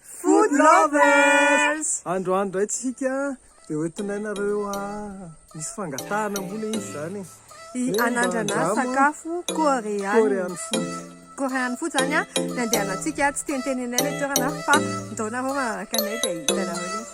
Food lovers! Andro andro dray tsika dia hoentinay nareo a misy fangatahana moa le izy zany e. Hi anandrana sakafo koreana. Korean food. Korean food zany a, ny andehanantsika tsy teniteninay le toerana fa ndao nareo manaraka anay dia hitanareo le izy.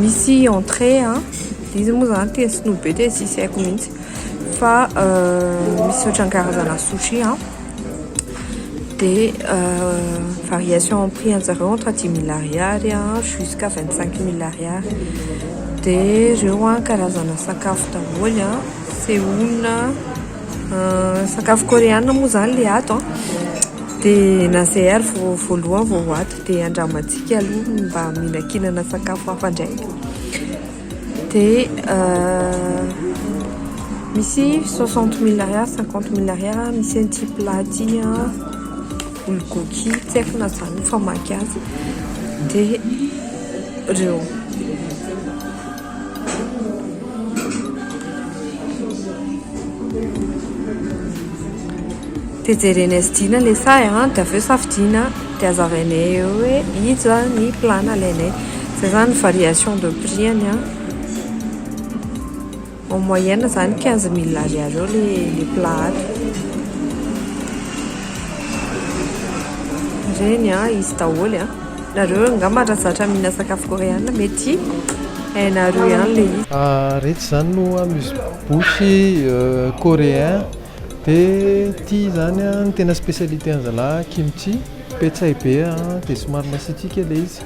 Misy entrée an, dia izy moa zany tena sinoa be dia tsisy haiko mihitsy fa misy ohatran'ny karazana sushi an, dia variation en prix anjareo entre dimy mille ariary an jusqu'à vingt cinq mille ariary, dia reo an karazana sakafo daholo an, seoul, sakafo koreana moa zany le ato an, dia na zay ary vao voalohany vao ho ato. Dia andramantsika aloha ny mba mihinankinana sakafo hafa indray. Dia euh, misy 60 mille ariary, 50 mille ariary, ah, misy an'ity plat ity an, ah, bulgogi, tsy haiko na zany ny famaky azy. Dia reo. Dia jerena SD na le sahy an, dia avy eo safidiana dia azavainay eo hoe iza ny plan alainay. Izay izany ny variation de prix-any an. En moyenne izany quinze mille ariary eo le le plan ato. Ireny an, izy daholo an. Nareo angamba ra zatra mihina sakafo koreana mety hainareo ihany le izy. Ah retsy zany no amuse bouche coréen de ty zany an ny tena specialité an zalahy kimchi petsay be an de somary masitrika le izy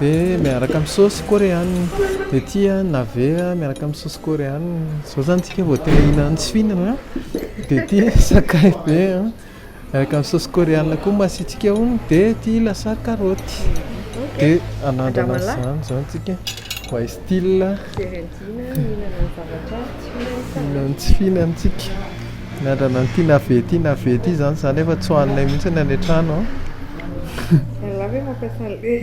de miaraka am saosy koreana de ty an navet an miaraka am saosy koreana zao zany tsika vao te hihinana tsy fihinana de ty sakay be an. Araka ny saosy koreana koa masiantsika hono dia ity lasary karaoty. Dia anandrana izany izao antsika mba hi style. Fiorentina mihinana ny zavatra tsy fihinan'ny taratra. Ny tsy fihinantsika. Anandrana an'ity navet ity navet ity izany izany efa tsy hohaninay mihitsy any an-trano an. Ialahy ve mampiasa an'ilay.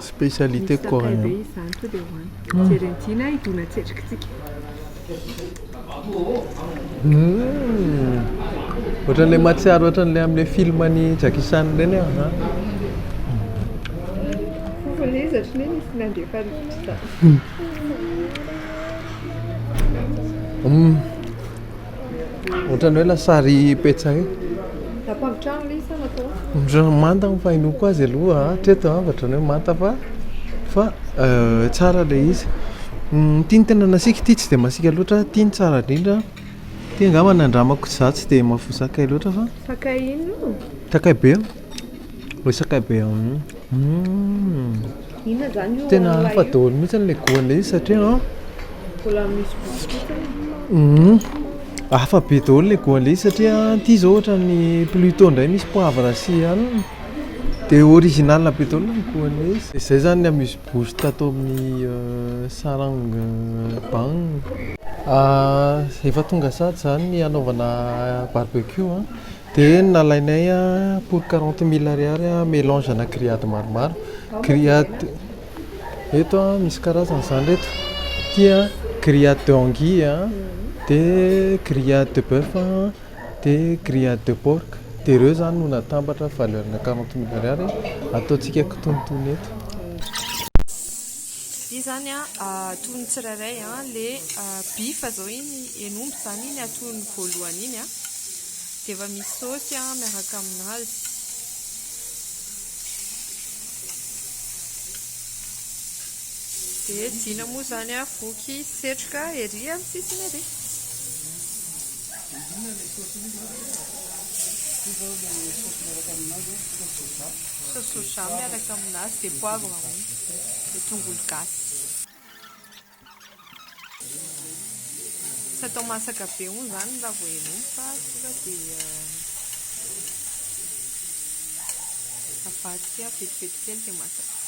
Spécialité coréen. Ohatran'ilay mahatsiaro ohatran'ilay amin'ilay film an'i Jackie Chan ireny aho an. Hum. Ohatran'ny hoe lasary petsay. Ampambotrano ilay izy sa natao Ohatran'ny manta ny fahenoako azy aloha hatreto a, ohatran'ny hoe manta fa fa tsara ilay izy. Ity ny tena nasiako, ity tsy dia masiaka loatra, ity no tsara indrindra. Ity angamba nandramako izaho tsy dia mahafoy sakay loatra fa Sakay inona io? Sakay be. Resaka be humm tena hafa daholo mihitsy ilay goût an'ilay izy satria an humm hafa be daholo ilay goût an'ilay izy satria ity izao ohatran'ny pluto indray misy poivre sy anana dia original be daholo ny goût an'ilay izy. Dia izay izany ny amuse bouche tato amin'ny sarang bang. Efa tonga sady izany ny hanaovana barbecue an. Dia nalainay pour quarante mille ariary melange ana grillade maromaro, grillade eto misy karazany izany reto, ity an grillade de anguille an, dia grillade de boeuf an, dia grillade de porc, dia ireo izany no natambatra valeur ana quarante mille ariary, ataontsika kitonotono eto. Ity izany an atono ny tsirairay an, ilay bif izao iny, hen'omby izany iny atono voalohany iny an. Dia efa misy saosy an miaraka aminazy. Dia Jina moa izany an voky setroka ery amin'ny sisiny ery. Inona ilay saosy iny izao dia? Ity izao ilay saosy miaraka aminazy an, saosy soja. Saosy soja miaraka aminazy dia poivre an dia tongolo gasy. Tsy atao masaka be hono izany ny lavohely hono fa tonga dia avadika vetivety kely dia masaka.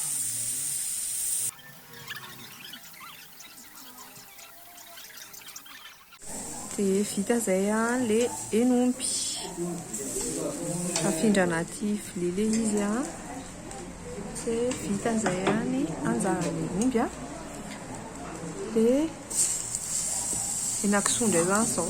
Dia vita izay ilay hen'omby. Afindra anaty vilia ilay izy dia vita izay ny anjaran'ny omby. Dia henakisoa indray izany izao.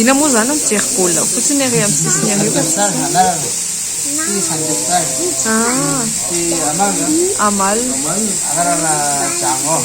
Inona moa izany mijery baolina fotsiny ery amin'ny sisiny ery fa tsy ah amal amal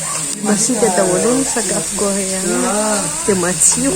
Masiaka daholo ny sakafo koreana dia matsiro.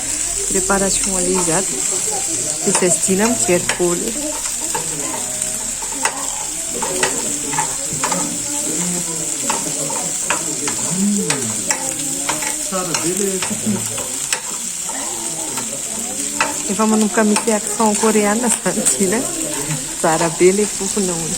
Préparation an'ilay izy ato dia tsy adino aho mijery bôly eo. Efa manomboka mety accent coréenne izany Gina. Tsara be ilay fofona hono.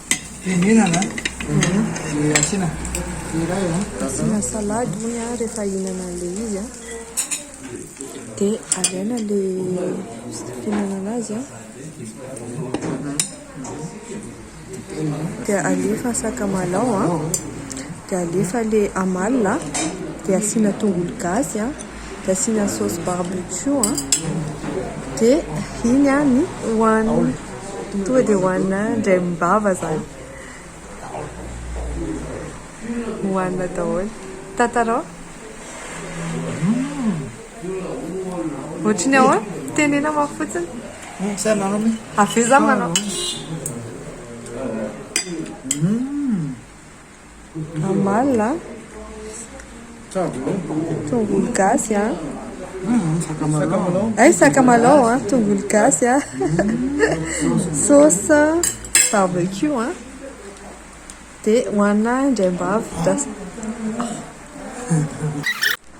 Fihinana dia asiana iray an. Asiana salady hono an rehefa hihinana an'ilay izy an. Dia alaina ilay fihinana anazy an. Dia alefa sakamalao an. Dia alefa ilay amalona dia asiana tongolo gasy an. dia asiana sauce barbecue an, dia iny an ny hohanina, tonga dia hohanina indray mimbava zany, hohanina daholo, tantarao? Ohatry ny ahoana? Tenena ma fotsiny? Avy eo za manao. Amalona, tongolo gasy, ay sakamalao, tongolo gasy, sauce barbecue dia hohanina indraim-bavy.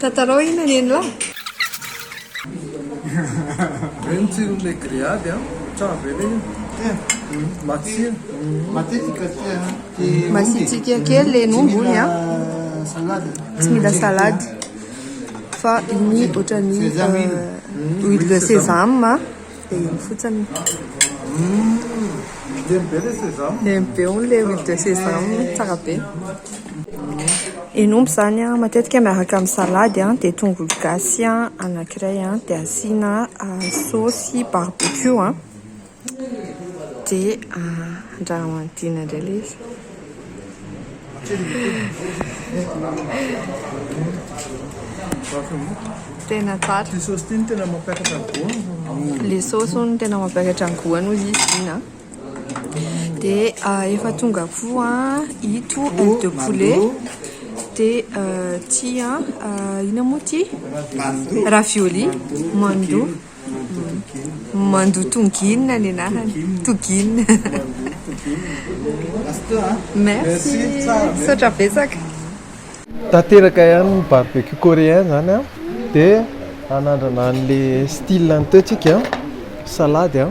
Tantarao iny anie ny lahy. Be ny tsirony le grillade a! Tsara be le iny. Matsiro. Masitsiaka kely le ny omby hono a! Tsy mila salade fa iny ohatran'ny huile de sésame. Dia io fotsiny. Lemy be le sesame. Lemy be hono le huile de sesame, tsara be. Hena omby zany an, matetika miaraka amin'ny salady an, dia tongolo gasy an, anankiray an, dia asiana saosy barbecue an, dia andrahoina indray ilay izy. Tena tsara. Le sauce tiny tena mampiakatra ny goût. Le sauce hono tena mampiakatra ny goût hono izy iny an. Dia ah, efa tonga koa ito aile de poulet. Dia ah, ity ah, inona moa ity? Ravioli, mandu. Mandoa tongin ny anarany. Togin. Merci. Misaotra betsaka. Tanteraka ihany ny barbecue coréen zany an, dia hanandrana an'ilay style any teo tsika, salady an.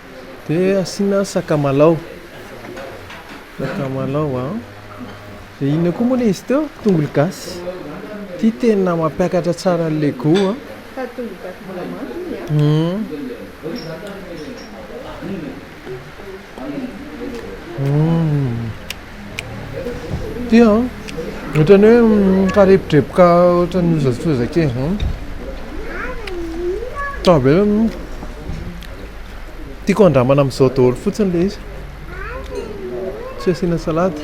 Dia asiana sakamalao, sakamalao a, dia inona koa moa ilay izy teo? Tongolo gasy. Ity tena mampiakatra tsara an'ilay goût a. Fa tongolo gasy mbola manta iny a. Hum. Hum. Ity an, ohatran'ny hoe mikarepotreboka ohatran'ny lozafoza kely izany. Tsara be aloha ny, tiako andramana amin'izao daholo fotsiny ilay izy. Tsy asiana salady,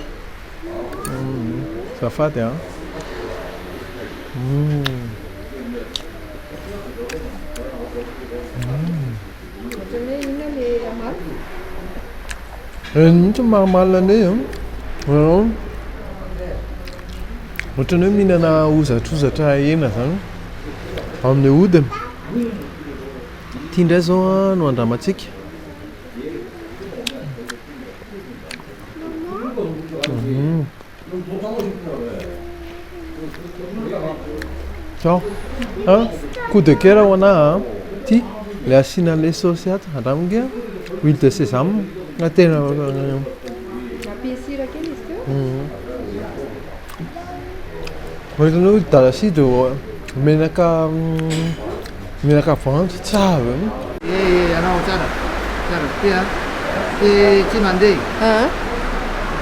azafady an. Reny mihitsy ny marimarina anay an! Ianao ohatran'ny hoe mihinana hozatrozatra hena izany amin'ny hodiny. Ity indray izao an no andramantsika. Tchao a coup de coeur ho anah a ty le asiana anle sauce ato andramo nge a huile de sesame na tena Nampiany sira kely izy teo. Ohatrany hoe dala sira de menaka Menaka voanjo tsara e. Eh anao tsara tsara be a. Ty tsy mandeha. Aa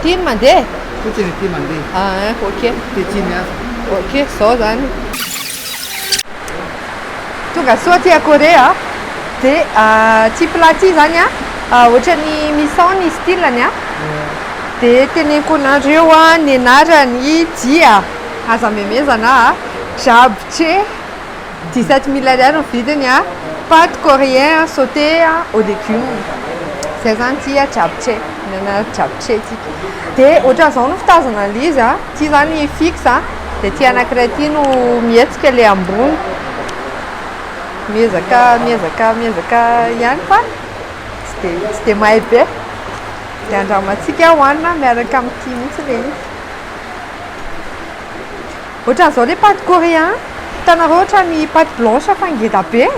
ty no mandeha? Fotsiny ity mandeha. Aa ok. Ty tsy miasa. Ok zao zany. Tonga soa aty a Corée a. De ty plat ty zany a ohatrany misy ao ny style-ny a. De teneniko anareo a ny anarany dia aza memezana a. Japche. Dix sept mille ariary ny vidiny a pate coréen a sauté a au legume zay zany ty a japche mihinana japche tsika de ohatran zao no fitazana anle izy a ty zany fixe a de ty anakiray ty no mihetsika le ambony miezaka miezaka miezaka ihany fa tsy de tsy de mahay be de andramantsika hohanina miaraka amty mihitsy le izy Ohatran'izao le pâte coréen, hitanareo ohatran'ny pâte blanche fa ngeda be e!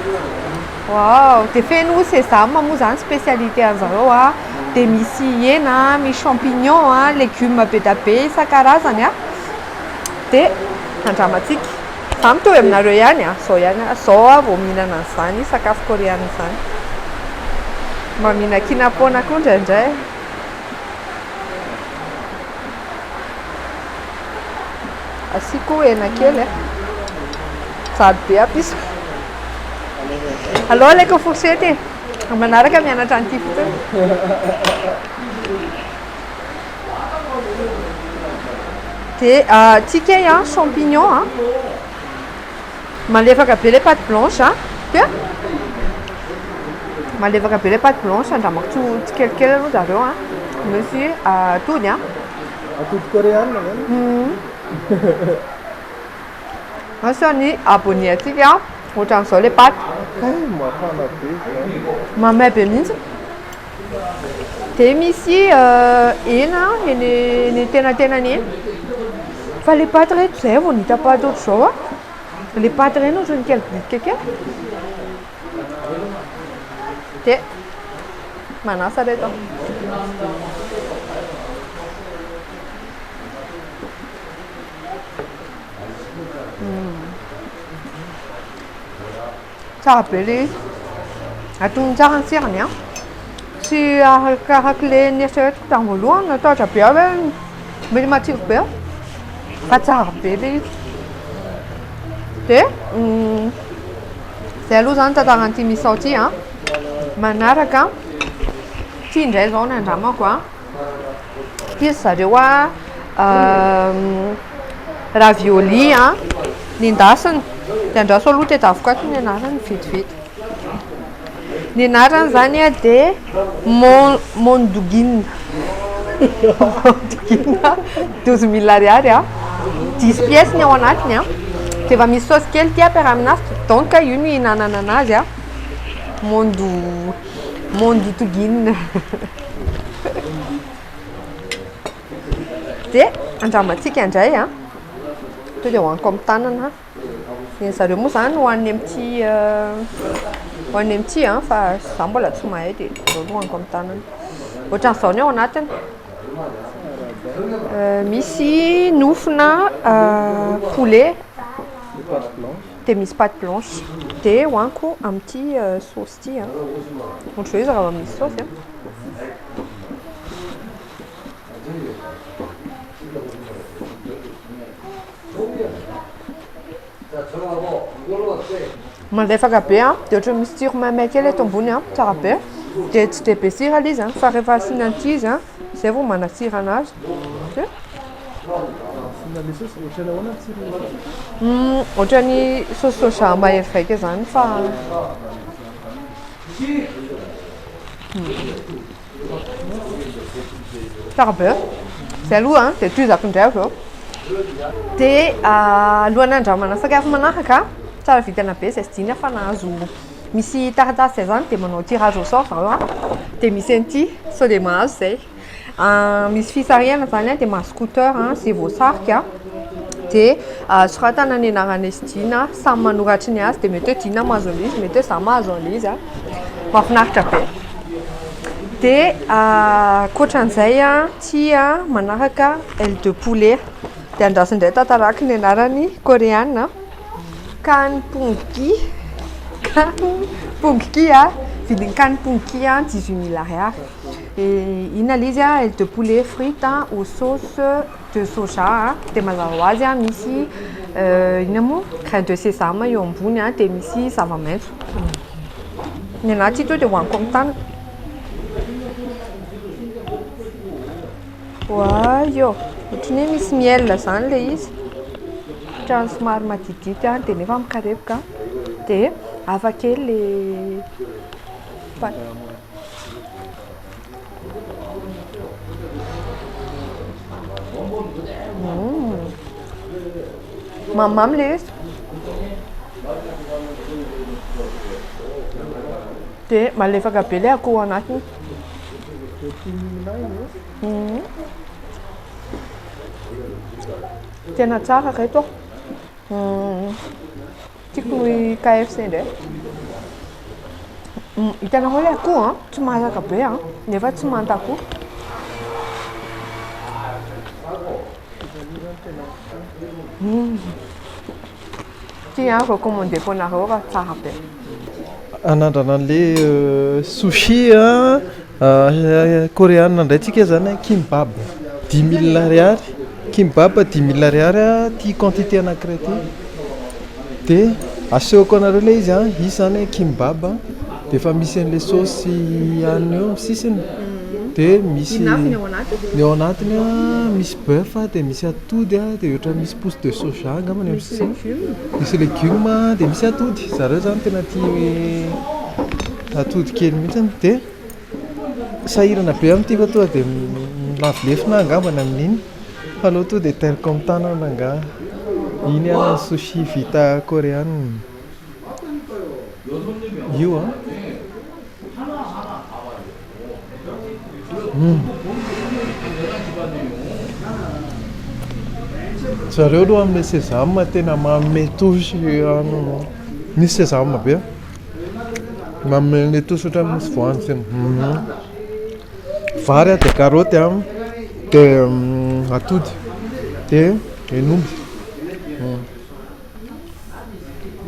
Waouh! Dia feno sésame moa izany spécialité an'i zareo a, dia misy hena, misy champignon a, légumes be dia be isan-karazany a! Dia andramantsika. Izaho mitovy aminareo ihany a, izao ihany aho, izao aho vao mihinana an'izany sakafo koreana izany. Mba mihinan-kinapoana koa indraindray. Asiako hena kely eh. Jaddo be aby izy. Aleo alaiko fourchette e. Ny manaraka mianatra an'ity fotsiny. Dia ah, tsikeha champignon an. Malefaka be ilay pâte blanche a! Tia? Malefaka be ilay pâte blanche, andramako tsy ho tsikelikely aloha zareo a! Misy atody a! Atody koreana izany? Asa ny abonné antsika ohatran'izao ilay pâte. Hay mafana be izany. Mamay be mihitsy. Dia misy hena eny eny an-tenantenany eny. Fa ilay paty re, toa izay aho vao nahita paty ohatr'izao an! Ilay paty ireny ohatran'ny kely bitika kely. Dia manasa re izao. Tsara be le izy. Atominy tsara ny tsirony an. Tsy arakarak' le nieritreretiko tam voalohany, natahotra be aho hoe mety matsiro be fa tsara be le izy. De zay aloha zany tantara an'ity misao ty an. Manaraka ty ndray zao ny andramako an. Ity ry zareo a ravioli a nendasina dia andraso aloha teto avokoa ato ny anarany vetivety ny anarany izany a dia mon- mondogina mondogina douze mille ariary a dix pièces ny ao anatiny a dia efa misy saosy kely ity ampiaraha aminazy donc io no ihinanana anazy a mondo Mondy Togin. Dia andramantsika indray a. Tonga dia hohaniko amin'ny tanana. Ny zareo moa izany hohaniny amin'ity hohaniny amin'ity a fa za mbola tsy mahay dia aleo aloha hohaniko amin'ny tanana. Ohatran'izao ny ao anatiny. Misy nofona poulet dia misy pâte blanche. Dia hohaniko amin'ity saosy. Ity an. Ohatran'izay izy raha vao misy saosy an. Malefaka be an, dia ohatran'ny misy tsiro maimay kely eto ambony an, tsara be. Dia tsy dia be sira ilay izy an, fa rehefa asiana an'ity izy an, Izay vao manatsira anazy. Ohatran'ny sauce soja mahery vaika izany fa. Tsara be. Izay aloha dia tohizako indray avy eo. Dia alohan'ny handramana sakafo manaraka, tsara vintana be izay sy diniha fa nahazo. Misy taratasy izay izany dia manao tirage au sort zareo dia misy an'ity sao dia mahazo izay. Misy fisarihana izany dia mahazo scooter izay voasarika dia soratana ny anaran'izy sy Dina samy manoratry ny azy dia mety hoe Dina mahazo an'izy mety hoe izaho mahazo an'izy. Mahafinaritra be. Dia ankoatra an'izay ity manaraka aile de poulet dia andraso indray tantaraky ny anarany koreana. Kany pongy kany pongy a vidin'ny kany pongy a dix huit mille ariary inona ilay izy a aile de poulet frite a au sauce de soja a dia mazava ho azy a misy inona moa graine de sesame eo ambony a dia misy zava-maitso ny anà tsy hita eo dia hohaniko amin'ny tanana Oay ô! Ohatry ny hoe misy miel izany ilay izy. Ohatran'ny somary maditidity any dia nefa mikarepoka an! Dia hafa kely ilay pat. Mamimamy ilay izy. Dia malefaka be ilay akoho ao anatiny. Tena tsara ireto a. Tiako ny KFC indray. Hitanareo ilay akoho a, tsy masaka be a, nefa tsy manta akoho. Ty an, vao commandé ko nareo fa tsara be. Anandrana anle sushi an, koreana ndray tsika zany an, kimbab dimy mille ariary, kimbab dimy mille ariary an, ty quantité anakiray ty, de asehoko anareo le izy an, izy zany an kimbab an, de efa misy anle saosy aniny eo am sisiny, de misy, ny ao anatiny an, ny ao anatiny an misy. Boeuf a dia misy atody a dia ohatra misy pousse de soja angamba any amin'ny sisiny. Misy legume. Misy legume a dia misy atody. Zareo zany tena tia hoe atody kely mihitsy dia sahirana be amin'ity fa tonga dia lavo lefona aho angamba ny amin'iny fa aleo tonga dia tel comme tanana angaha. Iny ihany no sushi vita koreana. Io an. Zareo aloha amin'ny sesame tena manome touche an'ny, misy sesame be an, manome an'ilay touche ohatran'ny misy voanjo zay, vary dia karaoty an, dia atody, dia hen'omby.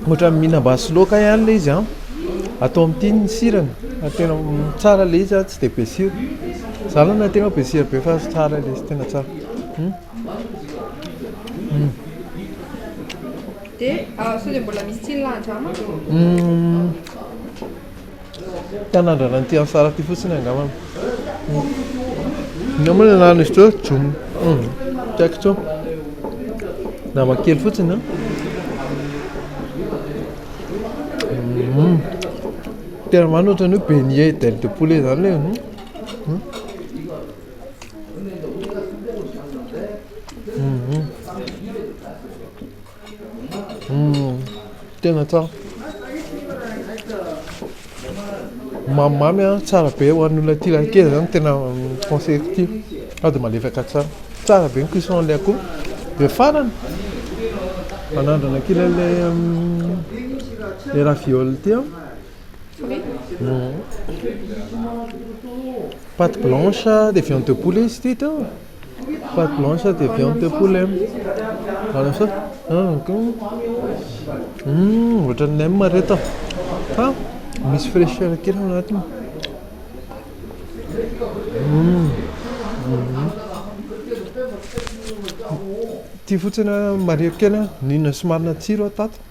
Ohatran'ny mihinam-basy sy laoka ihany ilay izy an! Atao amin'ny tin ny sirany, ary tena tsara ilay izy an, tsy dia be sira. Izaho aloha na tena be sira be fa tsara ilay izy, tena tsara. Dia sao dia mbola misy tsiny lahan-drà manko? Te hanandrana an'ity Ansar ity fotsiny angamba. Inona moa ny anaran'izy teo? Jom. Hmm. Tsy haiko intsony. Nama kely fotsiny an. Hmm. Tena mano ohatran'ny hoe beignet d'ailes de poulet izany ilay. Hmm. Hmm. Hmm. Humm tena tsara Mamy mamy a, tsara be ho an'ny olona tia lahy kely zany tena conseilleko ity sady malefaka tsara, tsara be ny cuisson an'ilay akoho dia farany hanandrana kely an'ilay le raviol ity aho humm pate blanche dia viande de poulet izy ity hitanao. Fat blanche dia avy ao amin'ny tempoly em. Voilà ça. Hum, ohatran'ny nem ry reto ah. Fa misy fraîcheur kely ao anatiny. Hum. Ity fotsiny marihiko kely an, n'inona sy marina tsiro aho tato.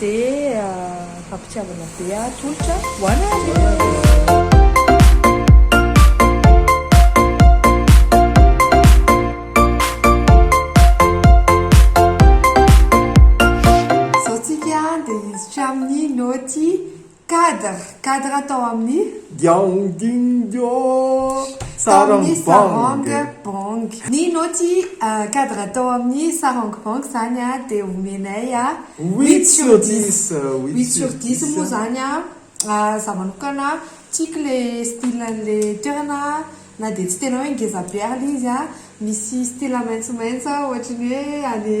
Dia fampitiavana be ah tolotra ho anareo. Zao tsika dia hiditra amin'ny naoty Cadre, cadre tao amin'ny. Diaong ding dio, sarong bong. Bong. Ny naoty cadre tao amin'ny sarong bong izany dia omenay huit sur dix. Huit sur dix moa izany za manokana tiako le style an'le toerana na dia tsy tena hoe ngeza be ary le izy misy style maitsomaitso ohatra ny hoe any.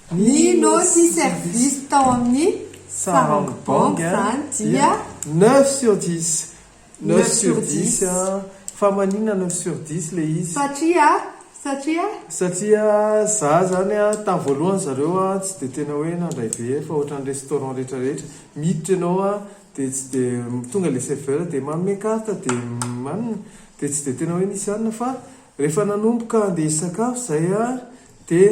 Ny nosy service tao amin'ny Sarong Bong zany dia. Neuf sur dix. Neuf sur dix fa maninona neuf sur dix le izy? Satria, satria? Satria za zany a tamin'ny voalohany zareo a tsy dia tena hoe nandray very fa ohatran'ny restaurant rehetra rehetra miditra ianao a dia tsy dia tonga le serveur dia manome carte dia manina dia tsy dia tena hoe nisy anona fa rehefa nanomboka andeha hisakafo zay a Dia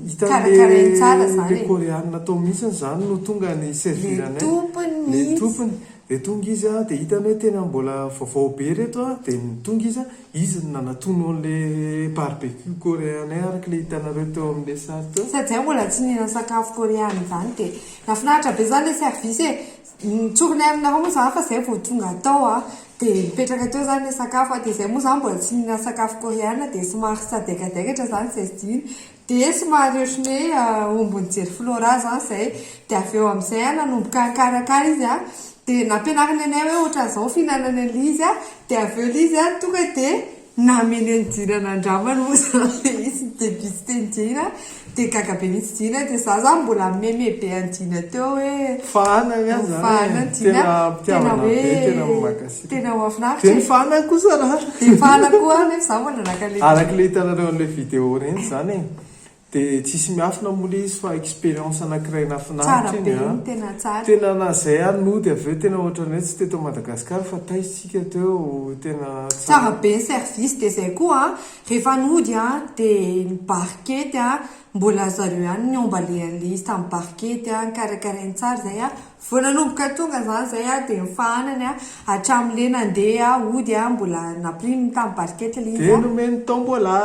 hitan'ilay ilay Koreanina tao mihitsiny izany no tonga ni-servir anay. Ilay tompony. Dia tonga izy an, dia hitany hoe tena mbola vaovao be ireto an, dia tonga izy an, izy no nanatono an'ilay barbecue Koreanay araka ilay hitanareo teo amin'ilay sary teo. Sady izahay mbola tsy nihinana sakafo Koreana izany dia nahafinaritra be izany ilay service e. Nitsorinay aminareo moa izany fa izay vao tonga tao an. Dia mipetraka teo izany ilay sakafo an, dia izay moa izaho mbola tsy nihinana sakafo koreana dia somary sadaikadaikatra izany izay tsy dino, dia somary ohatran'ny hoe omby nijery flora izany izay, dia avy eo amin'izay an nanomboka nikarakara izy an, dia nampianariny anay hoe ohatran'izao ny fihinanana an'ilay izy an, dia avy eo ilay izy an tonga dia Namely an'i Dina nandramany moa zany izy debut teny Dina dia gaga be mihitsy Dina dia za zany mbola meme be an'i Dina teo hoe Fahana ny azy zany e, tena mpitiavana be, tena mankasitra. Tena mahafinaritra e. Dia ny Fahana koa zalahy. Dia ny Fahana koa nefa za mbola naka le. Araka le hitanareo an'ilay vidéo ireny zany e, De tsisy miafina moa le izy fa expérience anakiray nafinaritra iny an! Tena na zay ary nody avy eo tena ohatrany hoe tsy teto Madagascar fa taiza isika teo tena tsara be ny service de zay koa an! rehefa nody an! de ny barikety an! mbola zareo ihany niomba le anle izy tamin'ny barikety an! nikarakarainy tsara zay an! vao nanomboka tonga zany zay an! de ny fahanany an! hatramin'le nandeha hody an! mbola nampiriminy tamin'ny barikety le izy an! de nomeny tombola!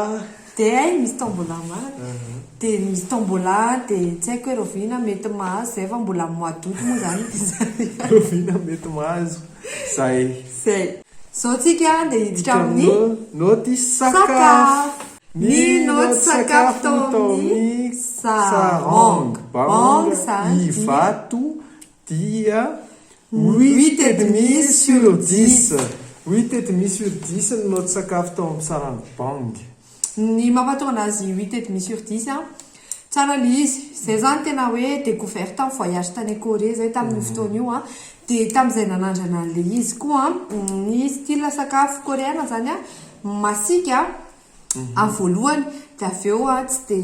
Dia hay misy tombola marina dia misy tombola dia tsy haiko hoe rahoviana mety mahazo izay fa mbola amin'ny mois d'aout moa izany ilay zariary. Rahoviana mety mahazo izay. Izay. Izao tsika dia hiditra amin'ny naoty sakafo. Ny naoty sakafo tao amin'ny sarong. Bang izany dia. Ivato Dia huit et demi sur dix, huit et demi sur dix ny naoty sakafo tao amin'ny sarany Bang. Ny mampahatonga anazy huit et demi sur dix an, tsara ilay izy, izay izany tena hoe decouverte an, voyage tany Corée izay tamin'io fotoana io an, dia tamin'izay nanandrana an'ilay izy koa an, ny style sakafo Koreana izany an, masiaka an. aho voalohany de avy eo aho tsy de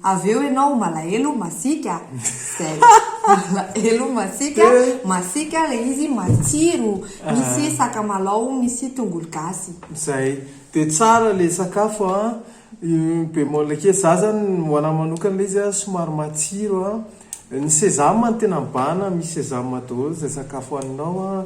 avy eo ianao malahelo masiaka zay malahelo masiaka masiaka le izy matsiro misy sakamalaho misy tongolo gasy zay de tsara le sakafo a bémol kely za zany ho anahy manokana le izy a somary matsiro a ny sesame no tena mibahana misy sesame daholo zay sakafo haninao a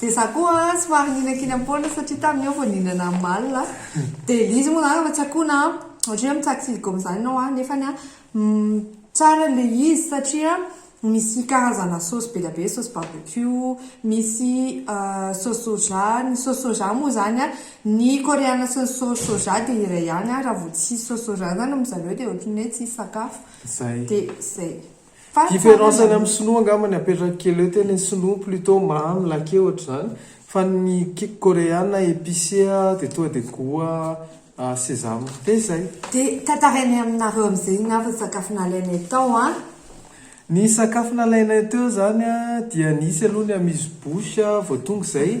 Dia za koa somary ninakinam-poana satria tamin'ny eo vao nihinana amalona dia ilay izy moa zany efa tsy akona an, ohatra hoe mitsako silicone zany ianao an, nefany an tsara ilay izy satria misy karazana saosy be dia be, saosy barbecue, misy saosy soja, ny saosy soja moa zany an, ny koreana sy ny saosy soja dia iray ihany an, raha vao tsy hisy saosy soja zany ry zareo dia ohatran'ny hoe tsy hisy sakafo, dia zay. Différence any amin'ny sinoa angamba ny apetrako kely eo tena ny sinoa plutot mamy laqué ohatr'izany fa ny koreana épicé dia tonga dia goût sesame dia izay. Dia tantarainay aminareo amin'izay angamba ny sakafo nalainay tao an! Ny sakafo nalainay teo izany dia nisy aloha ny amuse bouche vao tonga izay.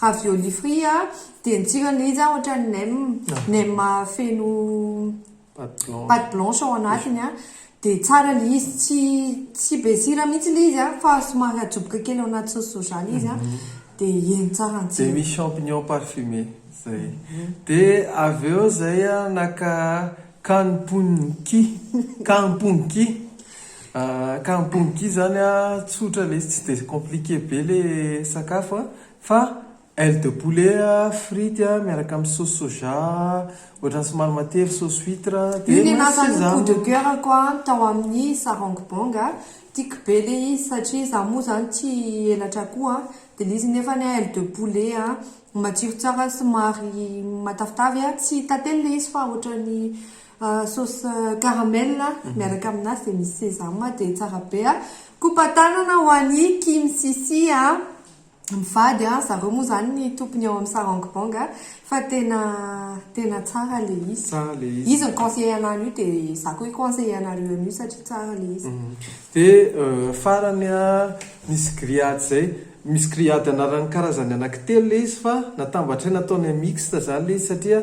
Ravioli frit a, dia ny tsirany izy a ohatran'ny nem, nem feno pate blanche ao anatiny a, dia tsara ilay izy, tsy tsy be sira mihitsy ilay izy a, fa somary ajoboka kely ao anaty sauce soja ilay izy a, dia iny tsara ny tsirany. Dia misy champignon parfumé, zay. Dia avy eo zay a, naka kampun ki, kampun ki. Ka mpongy izany a, tsotra le izy tsy dia compliqué be le sakafo a, fa aile de poulet a, frity a, miaraka amin'ny sauce soja ohatran'ny somary matery, sauce huitre dia masaka izany. Io no nahatonga ny coup de coeur ko an tao amin'ny sarong bong a, tiako be le izy satria za moa zany tia elatra akoho a, dia le izy nefa ny aile de poulet a, matsiro tsara somary matavitavy a, tsy tantely le izy fa ohatran'ny Sauce caramel miaraka aminazy dia misy sesame dia tsara be a! Kopa tanana ho an'i Kim Sisi a! Mivady a! Zareo moa zany ny tompony ao amin'ny Sarang Bang a! Fa tena tena tsara le izy. Tsara le izy. Izy mi-conseiller anah an'io dia za koa hi-conseiller anareo an'io satria tsara le izy. Dia farany a! Misy grillade zay, misy grillade anarany karazany anaky telo le izy fa natambatr'ahy nataony mixte zany le izy satria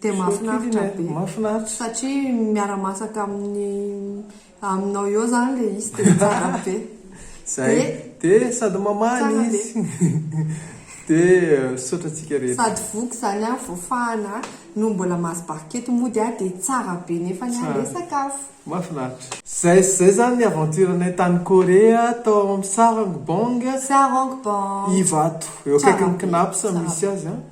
Dia mahafinaritra be. Mahafinaritra. Satria miara masaka amin'ny aminao eo zany le izy dia tsara be. Zay. Dia sady mamaly izy. Dia misaotra antsika rehetra. Sady voky zany an, voafahana an, no mbola mahazo barikety mody an, dia tsara be nefany an le sakafo. Mahafinaritra. Zay sy zay zany ny aventure anay tany Corée tao amin'ny Sarang Bong. Sarang Bong. Ivato. Eo akaikin'ny Cnaps misy azy an.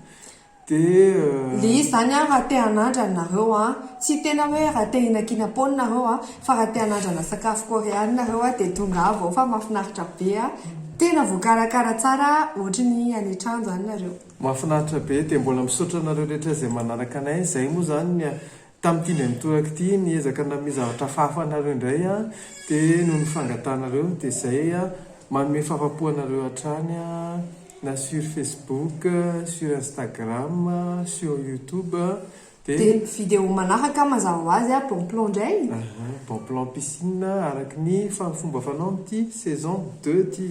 Dia. Lii zany an raha te hanandrana nareo an, tsy tena hoe raha te hihina kinapon nareo an, fa raha te hanandrana sakafo korean nareo an dia tongava ao fa mafinaritra be an, tena voakarakara tsara ohatry ny any an-trano zany nareo. Mafinaritra be, dia mbola misaotra anareo rehetra izay manaraka anay, zay moa zany ny Tamin'ity indray mitoraka ity, niezaka nanome zavatra hafahafa anareo indray aho, dia noho ny fangatahanareo, dia izay, manome fahafapo anareo hatrany aho, na sur Facebook, sur Instagram, sur YouTube, dia. Dia video manaraka mazava ho azy aho, bon plan indray e! Bon plan piscine, araka ny fomba fanao amin'ity saison deux ity.